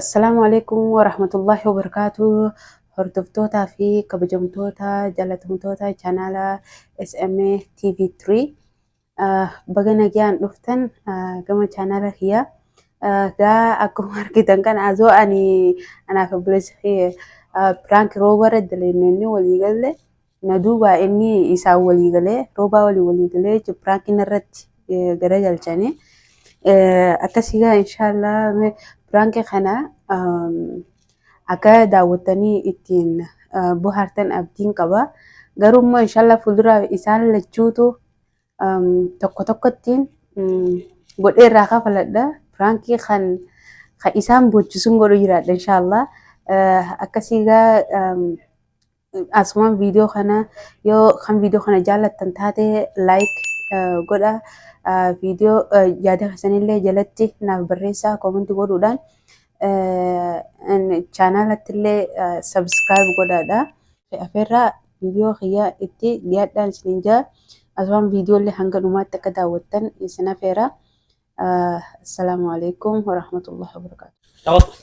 Assalaamu alaikum warahmatullahi wabarakaatu hordoftootaa fi kabajamtoota jaalatamtoota chaanaala SMA TV3 baga nagaan dhuftan gama chaanaala kiyyaa gaa akkuma argitan kan azoo ani anaaf obboleessi piraank roobara daleenyonni walii galle Na duuba inni isaan walii galee roobaa walii walii galee jechuun piraankiin irratti gara galchanii akkasii gaa inshaallah piraankii kana akka daawwattanii ittiin bohaartan abdiin qaba. Garuu immoo inshaallah fuuldura isaan lachuutu tokko tokkottiin godhee irraa kafaladha. Piraankii kan isaan boochisuun godhu jiraadha inshaallah. Akkasii gaa Asumaan viidiyoo kana yoo kan viidiyoo kana jaallattan taate like eh, godha Eh, viidiyoo eh, yaada keessanillee jalatti naaf barreessaa koomenti godhuudhaan eh, in- chaanaalattillee eh, subscribe godhaadha. Afeerraa viidiyoo kiyyaa itti dhiyaadhaan isiniin jaa asumaan viidiyoollee hanga dhumaatti akka daawwattan isin afeera. Eh, Assalaamu alaikum warahmatullahi wabarakatuh. Taphattu.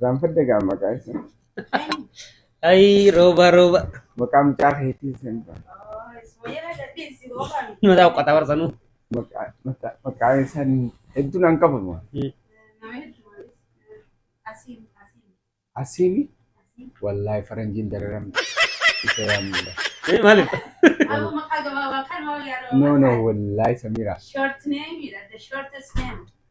Gaanfadde gaa maqaa isa. Ayii rooba rooba. Maqaa mucaa keetii san. Mataa uqqataa barsanuu. Maqaa maqaa- maqaa isaan hedduun an qabamu. Asiini wallaahi faranjiin dararamte. Isa yaamudha. Maaliif? No no wallaahi Samiira. Short name, the shortest name.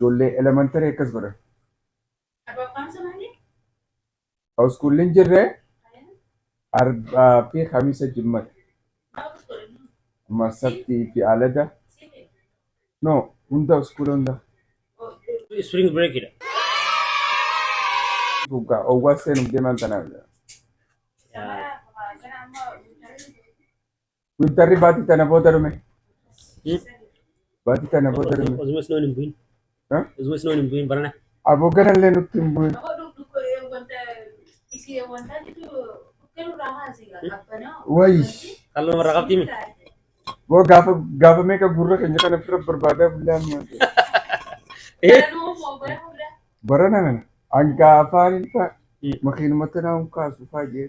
Ijoollee elementary akkas godha. Iskuulliin jirre arbaa fi kamiisa jimmata. Amma sabtii fi alada. No, hunda iskuula hunda. Spring break dha. Dhugaa owwaa seenuuf deeman tanaaf. Yaa. Wintarri baatii tana booda dhume. Baatii tana booda dhume. Osuma isnoon hin bu'in. Ha? Osuma isnoon hin bu'in barana. Aboo ganallee nutti hin bu'in. Wayi. Qal'oo namarraa qabdii mi? Boo gaafa gaafa meeqa gurra keenya kana fira barbaadaa bullaan maal. Barana kana hanga afaan hin ta'a. Makiinumatti naa hin kaasu faayyee.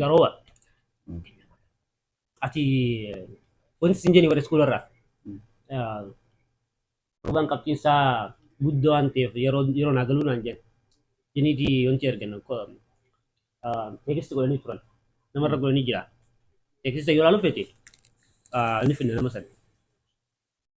Garoowa. Mm. Ati wanti sin jenni warri iskuula irraa. Mm. Ah, Roobaan qabxiin isaa guddoo waan ta'eef yeroo yeroo naa galuu naan jenna. Jiniitii wanti ergan teekistii godhanii turan. Namarra godhanii jira. Teekistii yoo ilaalu feete ah, inni finna nama sana.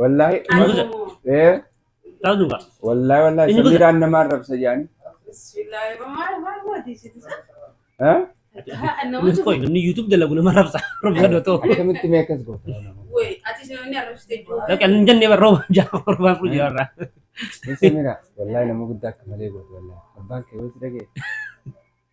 Wallaahi. Ani Wallaahi. dhuga. Ee, Ta'u dhuga. Wallaahi wallaahi Inni samiiraan nama arrabsa jaani. Ha? Innis qoy namni YouTube dalagu nama rabsa. Rabsa dotoo. Akkamitti mee akkas goota? Dhaqan hin jennee barroo ja'a torbaan furu jaarra. Mee samiira wallaahi nama guddaa akka malee goota wallaahi. Abbaan kee yoo si dhagee.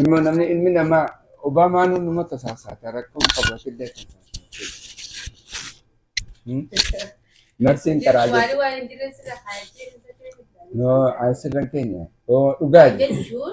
Ilma namni ilmi namaa Obaamaan hunduma tasaasaata rakkoon qaba shidda Narsiin karaa jirti. No, asirran keenya. Oo, dhugaa jechuudha.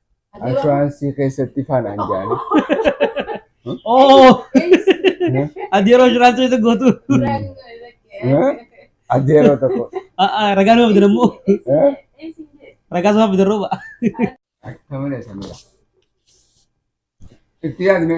Inshuraansii keessatti faanaan jaanii. Oo! Ati yeroo inshuraansii isa gootu. Adda yeroo tokko. A'aa ragaa nama bitan ammoo. Ragaa sama bitan rooba. Akka malee samira. Itti yaadne.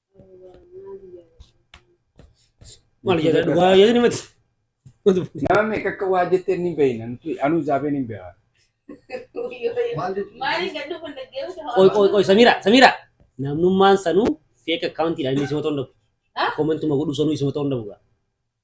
Maal jedha dhugaa yaadni mati. Nama meeqa akka waa jettee ni beeyna. Nuti anuu zaabeen hin beekaa. Qoy qoy qoy Samira Samira. Namnummaan sanuu fake account dhaan inni isuma ta'uu hin dhabu. Kommentuma godhu sanuu isuma ta'uu hin dhabu.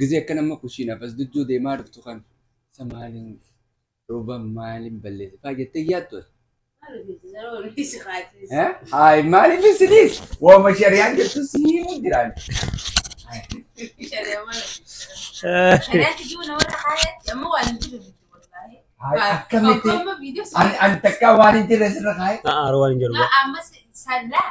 Gizee akkan amma kushiinaaf as dujjuu deemaa dhuftu kan isa maaliin dhooba maaliin balleesse faa jettee yaaddu ati. Haay maaliif isiniis waama shariyaan jettu siimuu jiraan. Haay akkamitti ani ani takkaa waan hin jirre sirra kaa'e. Haa aaroo waan hin jedhu. Ammas sallaa.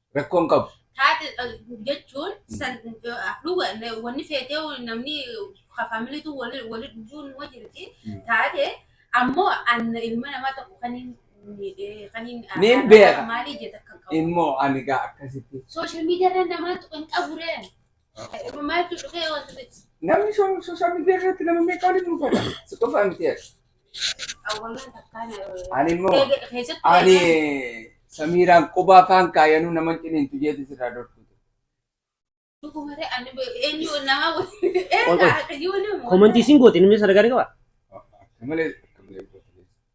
Rakkoon qabu. taate eh, jechuun san eh, dhuga na- wanni feetee namni ka faamiliitu wali wali dhuguun numa jirti Mm. taate ammoo anna ilma namaa tokko kan hin miidhee kan hin Niin arrabaa beeka. maalii jeta kan qabu Immoo ani gaa akkasitti. sooshaal miidiyaa irra namaa tuqan qaburee Namni sooshaa miidiyaa irratti nama meeqa waliin nu godha? Si qofa miti ati. Ani immoo ani samiiraan qubaa faan kaayanuu nama ciniintu jeeti sirraa dorkutu. Komantii isin goote inni sadarkaa ni qabaa? Malee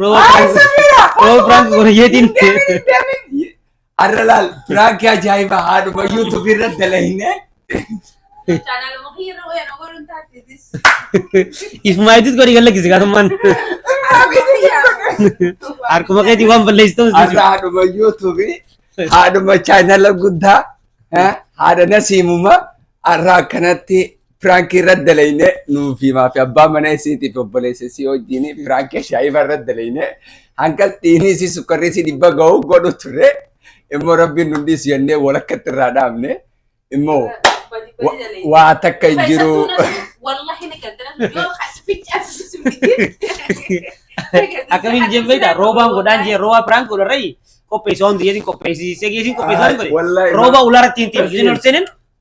Roba prank roba prank godhe jeetiin. Arra laal piraakii ajaa'ibaa haadhuma yuutuubii irra dalahinee. Chaanaaluma kiyya irra wayana godhuun taatee Ismaayitis godhi kan lakkisi gaarummaan. Harkuma keetii waan balleessitu. Arra haadhuma yuutuubii haadhuma chaanala guddaa eh, haadha nasiimuma arra akkanatti Piraankii irra dalayne nuufi maafi abbaa mana isiitiif obboleessa isii wajjin piraankii ashaa'iba irra dalayne hanga dhiinii isii sukkarri isii dhibba ga'u godhu turre immoo rabbiin nu dhiisu jennee walakkatti irraa dhaabne immoo wa- waa takka hin jiru. Wallahi ni galtana yoo kasficha asisi Akkamiin jemmeedha roobaan godhaan jee roobaa biraan godharrayi qopheessaa hundi jeetiin qopheessisee geesiin qopheessaa hin godhe Wallahi, roobaa ulaaratti hin tiimu isin ol seenin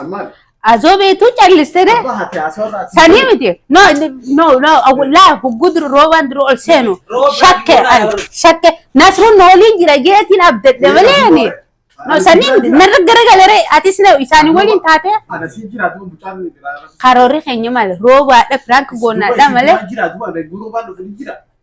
Ammaan. Azoo beektuu calliste dee. Abbaa haati haasawaa irraati. Sanii miti. No, no, no. Laa hogguu duru roobaan duru ol seenu. Roobaan Shakke, dura ani, ol. shakke. Nasruun na waliin jira jeetiin abdadde malee ani. No, sanii miti. Narra garagalee atis na isaanii waliin taate. Ana siin jiraatu mucaan ni jira. Karoorri keenya maal? Roobaadha, piraank goonaadha malee. Jiraatu waan beeku roobaan dhufu ni jira.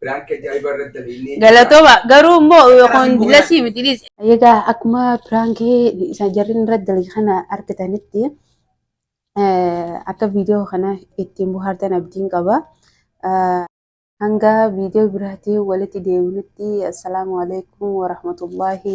Biraanki ajaa'iba irratti dalagnee. Galatooma garuu immoo kun lasii miti dhiis. Egaa akkuma piraankii isa jarriin irratti dalage kana argitanitti eh, akka viidiyoo kana ittiin bohaartan abdiin qaba. Eh, Hanga viidiyoo biraatiin walitti deebinutti assalaamu alaikum warahmatullaahi